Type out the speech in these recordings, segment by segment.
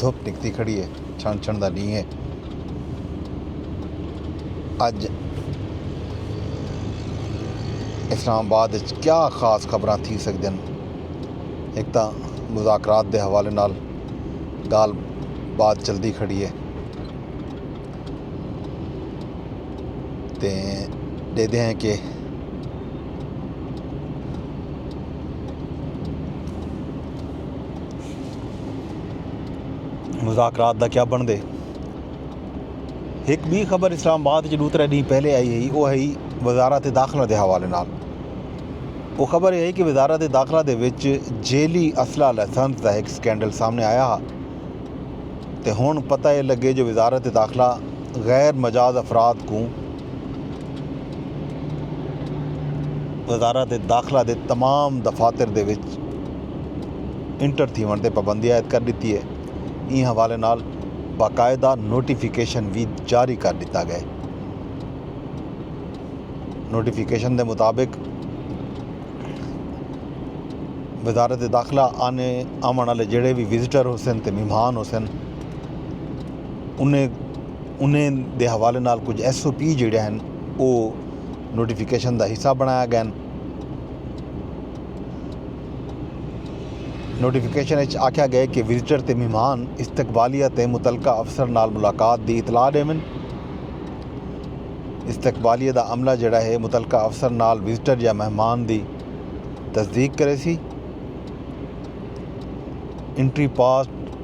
دھپ نکتی کھڑی ہے چھنڑ چھنڑ دا ڈینہہ ہے اج اسلام آباد وچ کیا خاص خبراں تھی سکدن ایک تاں مذاکرات دے حوالے نال گال بات چلدی کھڑی ہے تے دیدے ہیں کہ مذاکرات دا کیا بنڑدے ہک بی خبر اسلام آباد وچ ڈو ترے ڈینہہ پہلے آئی ہئی او ہئی وزارت داخلہ دے حوالے نال او خبر ہئی کہ وزارت داخلہ دے وچ جیلی اسلحہ لائسنس دا ہک سکینڈل سامنے آیا ہا تے ہن پتہ اے لگے جو وزارت داخلہ غیر مجاز افراد کوں وزارت داخلہ دے تمام دفاتر دے وچ انٹر تھیوݨ تے پابندی عائد کر ݙتی اے۔ ایں حوالے نال باقاعدہ نوٹیفکیشن وی جاری کر ݙتا ڳئے۔ نوٹیفکیشن دے مطابق وزارت داخلہ آنے آوݨ آلے جیڑھے وی وزٹر ہوسن تے مہمان ہوسن انھیں انہیں دے حوالے نال کجھ ایس او پی جیڑھے ہن او نوٹیفکیشن دا حصہ بنڑایا گئن۔ نوٹیفکیشن اچ آکھیا گئے کہ وزٹر تے مہمان استقبالیہ تے متعلقہ افسر نال ملاقات دی اطلاع ڈیون۔ استقبالیہ دا عملہ جیڑھا ہے متعلقہ افسر نال وزٹر یا مہمان دی تصدیق کریسی۔ انٹری پاس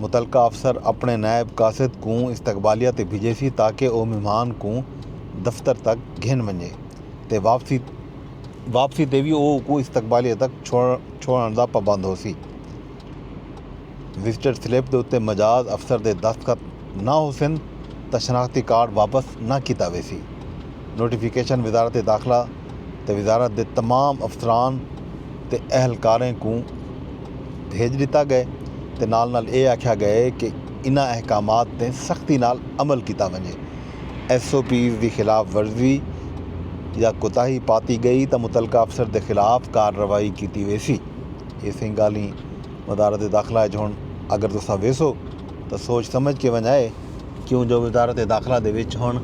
متعلقہ افسر اپنڑے نائب قاصد کوں استقبالیہ تے بھجیسی تاکہ او مہمان کوں دفتر تک گھن ونجے تے واپسی تے وی او اکوں استقبالیہ تک چھوڑنڑ دا پابند ہوسی۔ وزٹر سلپ دے اتے مجاز افسر دے دستخط نہ ہوسن تاں شناختی کارڈ واپس نہ کیتا ویسی۔ نوٹیفکیشن وزارت داخلہ۔ تے وزارت دے تمام افسران تے اہلکاریں کوں بھیج ݙتا ڳئے تے نال نال اے آکھیا ڳئے کہ انہاں احکامات تے سختی نال عمل کیتا ونڄے، ایس او پیز دی خلاف ورزی یا کوتاہی پاتی ڳئی تاں متعلقہ افسر دے خلاف کارروائی کیتی ویسی، اے سئیں ڳالھیں وزارت داخلہ اچ ہن اگر تساں ویسو تاں سوچ سمجھ کے ونڄ آئے۔ کیوں جو وزارت داخلہ دے وچ ہݨ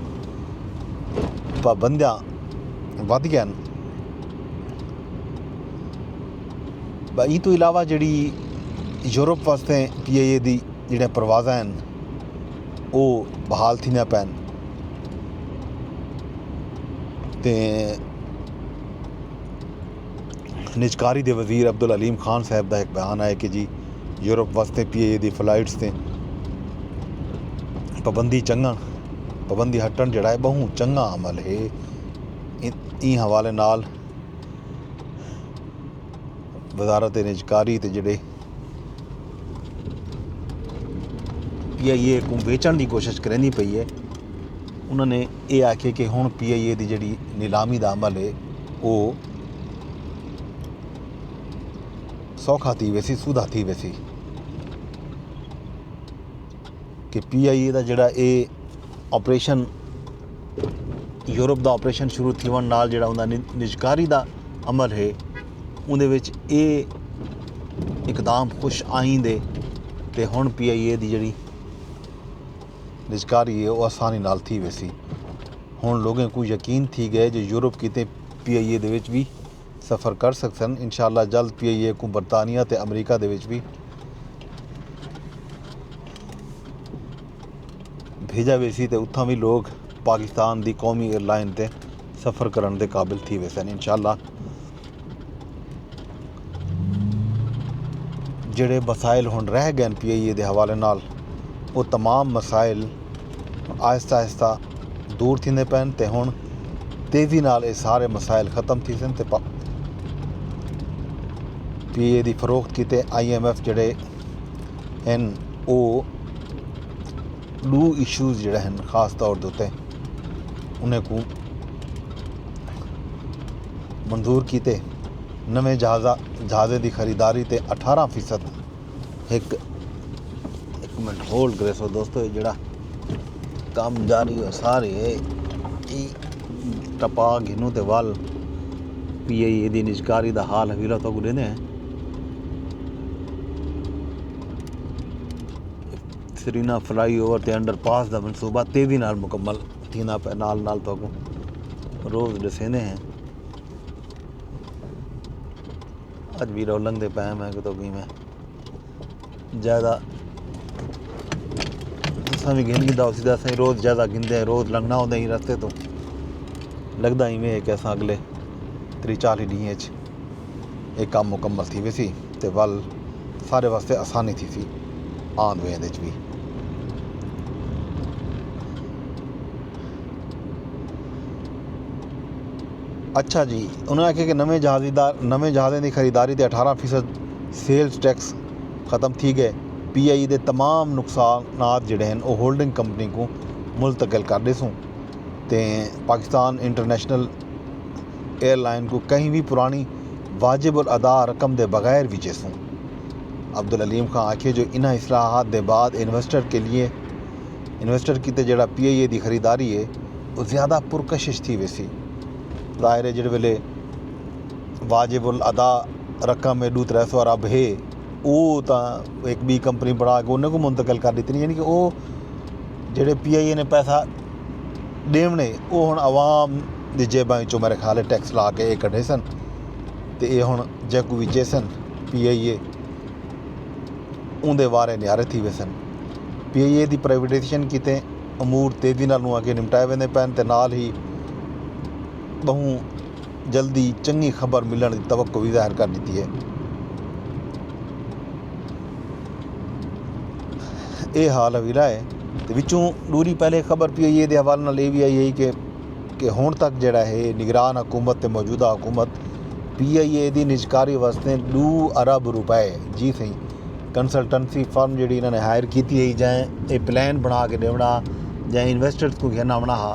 پابندیاں ودھ ڳئن ٻئے ایں توں علاوہ جیڑھی یورپ واسطے پی آئی اے دی جیڑھیاں پروازاں ہن او بحال تھیندیاں پئن تے نجکاری دے وزیر عبدالعلیم خان صاحب دا ہک بیان آئے کہ جی یورپ واسطے پی اے اے دی فلائٹس تے پابندی چنگن پابندی ہٹن جڑا ہے بہوں چنگا عمل ہے ایں حوالے نال وزارت نجکاری تے جڑے پی آئی اے کو ویچن دی کوشش کریندی پئی ہے انہوں نے یہ آکھے کہ ہوں پی آئی اے دی جڑی نیلامی دا عمل ہے وہ سوکھا تھی ویسی سودھا تھی ویسی کہ پی آئی اے دا جڑا اے آپریشن یورپ دا آپریشن شروع تھی ون نال جڑا انہوں نے نجکاری دا عمل ہے اوندے وچ اے اقدام خوش آئند اے تے ہݨ پی آئی اے دی جیڑھی نجکاری اے او آسانی نال تھی ویسی۔ ہݨ لوگیں کوں یقین تھی ڳئے جو یورپ کیتے پی آئی اے دے وچ وی سفر کر سڳسن، انشاء اللہ جلد پی آئی اے کوں برطانیہ تے امریکہ دے وچ وی بھیڄا ویسی تے اتھاں وی لوک پاکستان دی قومی ایئرلائن تے سفر کرن دے قابل تھی ویسن انشاءاللہ جڑے مسائل ہن رہ گئے پی آئی اے دے حوالے نال وہ تمام مسائل آہستہ آہستہ دور تھیندے پین تے ہن تیزی نال اے سارے مسائل ختم تھی سن تے پی اے دی فروخت کیتے آئی ایم ایف جڑے ہن او ڈو ایشوز جڑے ہن خاص طور دوتے انہیں کوں منظور کیتے نویں جہازہ جہازے دی خریداری تے اٹھارہ فیصد ایک ایک منٹ ہولڈ کرے سو دوستو یہ جڑا کام جاری ہو سارے ہے ای ٹپا گھنو تے وال پی ای اے دی نجکاری دا حال حویلہ تو گلے دے ہیں سرینا فلائی اوور تے انڈر پاس دا منصوبہ تیزی نال مکمل تھیندا پئے نال نال تہاکوں روز ݙسیندے ہیں اج بھی رو لنگدے پئے میں کہ تو کی میں جائزہ اساں بھی گھن گھدا اسی دا اساں روز جائزہ گھندے ہیں روز لنگنا ہوندے ہی رستے تو لگدا ہی میں کہ اساں اگلے تری چالی ڈینہہ اچ اے کم مکمل تھی ویسی تے ول سارے واسطے آسانی تھیسی آند ویند اچ وی۔ اچھا جی انہوں نے آخیا کہ نویں جہازی دار نویں جہازیں دی خریداری تے اٹھارہ فیصد سیلز ٹیکس ختم تھی گئے پی آئی ای دے تمام نقصانات جڑے ہیں وہ ہولڈنگ کمپنی کو منتقل کر ڈیسوں تے پاکستان انٹرنیشنل ایئر لائن کوں کہیں وی پرانی واجب الادا رقم دے بغیر وچیسوں۔ عبدالعلیم خان آکھیے جو انہاں اصلاحات دے بعد انویسٹر کیلئے انویسٹر کیتے جیڑھا پی آئی اے دی خریداری اے او زیادہ پرکشش تھی ویسی۔ ظاہر اے جیڑھے ویلے واجب الادا رقم اے ݙو ترے سو ارب ہے او تاں ہک ٻی کمپنی بݨا کے انہیں کوں منتقل کر ݙتنی یعنی کہ او جیڑھے پی آئی اے نے پیسہ ڈیونے او ہن عوام دی جیباں وچوں میرے خیال ہے ٹیکس لا کے اے کڈھیسن تے اے ہن جیکوں وی چیسن پی آئی اے اوندے وارے نیارے تھی ویسن پی آئی اے دی پرائیویٹائزیشن کیتے امور تیزی نال اگے نمٹائے ویندے پین تے نال ہی بہوں جلدی چنگی خبر ملنڑ دی توقع وی ظاہر کر ڈتی ہے۔ اے حال حویلا ہے تے وچوں ڈوری پہلے ہک خبر پی آئی اے دے حوالے نال اے وی آئی ہئی کہ کہ ہنڑ تک جیڑھا ہے نگران حکومت تے موجودہ حکومت پی آئی اے دی نجکاری واسطے ڈو ارب روپے جی سہی کنسلٹنسی فرم جیڑھی انہاں نے ہائر کیتی ہئی جئیں اے پلان بنڑا کے ڈیونڑا جئیں انویسٹرز کوں گھن آونڑا ہا۔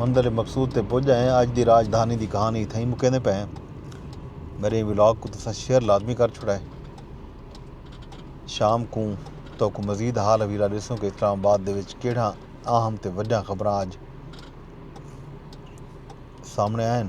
منزل مقصود تے پج ڳئے ہیں۔ اج دی راج دھانی دی کہانی اتھاں ہی مکیندے پئے ہیں۔ میݙے ولاگ کوں تساں شیئر لازمی کر چھوڑا ہے۔ شام کوں تہاکوں مزید حال حویلا ݙیسوں کہ اسلام آباد دے وچ کیڑھاں اہم تے وݙاں خبراں اج سامݨے آئن۔